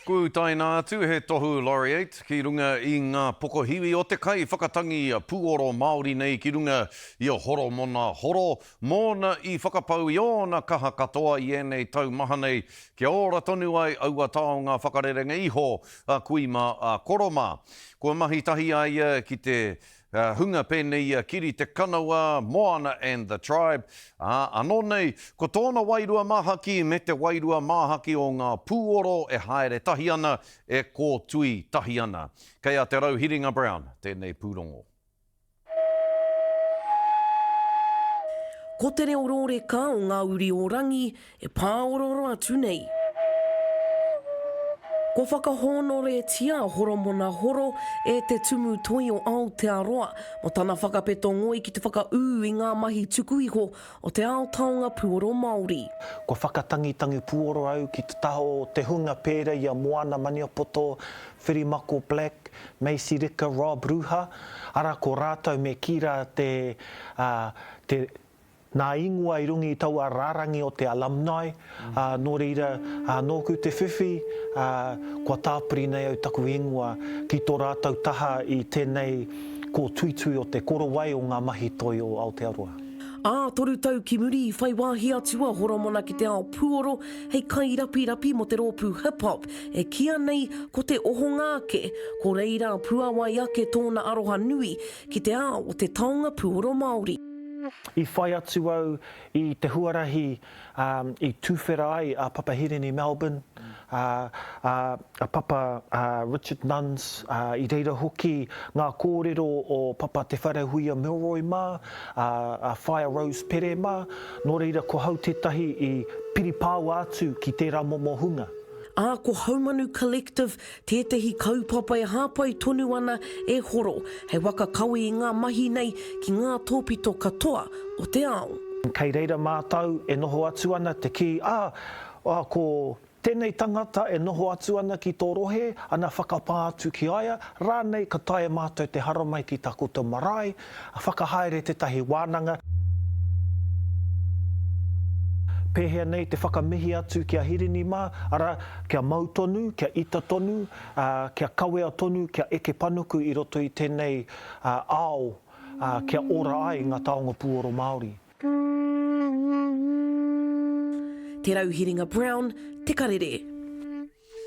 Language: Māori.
Kua utaina atu he tohu Laureate ki runga i ngā pokohiwi o te kai whakatangi puoro Māori nei ki runga i a Horomona Horo mōna i whakapau i ōna kaha katoa i ēnei tau maha nei kia ora tonu ai aua taonga whakarerenga iho a kui mā a koro mā. Kua mahi tahi a ia ki te He hunga pēnei i a Kiri Te Kanawa, Moana and the Tribe, ā, anō nei, ko tōna wairua māhaki me te wairua māhaki o ngā pūoro e haere tahi ana, e kōtui tahi ana. Kei a Te Rauhiringa Brown tēnei pūrongo. Ko te reo rōreka o ngā uri o Rangi E pāorooro atu nei. Kua whakahōnoretia a Horomona Horo e Te Tumu Toi o Aotearoa mō tana whakapeto ngoi ki te whakaū i ngā mahi tuku iho o te ao taonga puoro Māori. Kua whakatangitangi puoro au ki te taha o te hunga pērā i a Moana Maniapoto, Whirimako Black, Macy Rika, Rob Ruha, arā ko rātou me Kira te, ā, te, Nā ingoa i runga i taua rārangi o te alumni, ā, nō reira, ā, nōku te whiwhi, ā, kua tāpiri nei au taku ingoa ki tō rātou taha i tēnei kōtuitui o Te Korowai o ngā Mahi Toi o Aotearoa. Ā, toru tau ki muri i whai wāhi atu a Horomona ki te ao pūoro hei kairapirapi mō te rōpū hip hop e kīa nei ko Te Ohonga Ake, ko reira puāwai ake tōna aroha nui ki te ao o te taonga puoro Māori. I whai atu au i te huarahi i tuwhera ai a Papa Hirini Melbourne, a Papa Richard Nunns, i reira hoki ngā kōrero o Papa Te Wharehuia Milroy mā, a Whaea Rose Pere mā, nō reira ko hau tētahi i piri pāua atu ki tērā momo hunga. Ā, ko Haumanu Collective Tētehi kaupapa e hāpai tonu ana e Horo hei waka kawe i ngā mahi nei ki ngā tōpito katoa o te ao. Kei reira mātou e noho atu ana te kī, ā, ko tēnei tangata e noho atu ana ki tō rohe, ana whakapā atu ki a ia, rānei ka taea mātou te haramai ki takoto marae, Whakahaere tētahi wānanga. Pēhea nei te whakamihi atu ki a Hirini mā, arā, kia mau tonu, kia ita tonu, ā, kia kawea tonu, kia eke panuku i roto i tēnei ao, ā, kia ora ai ngā taonga puoro Māori. Te Rauhiringa Brown, Te Karere.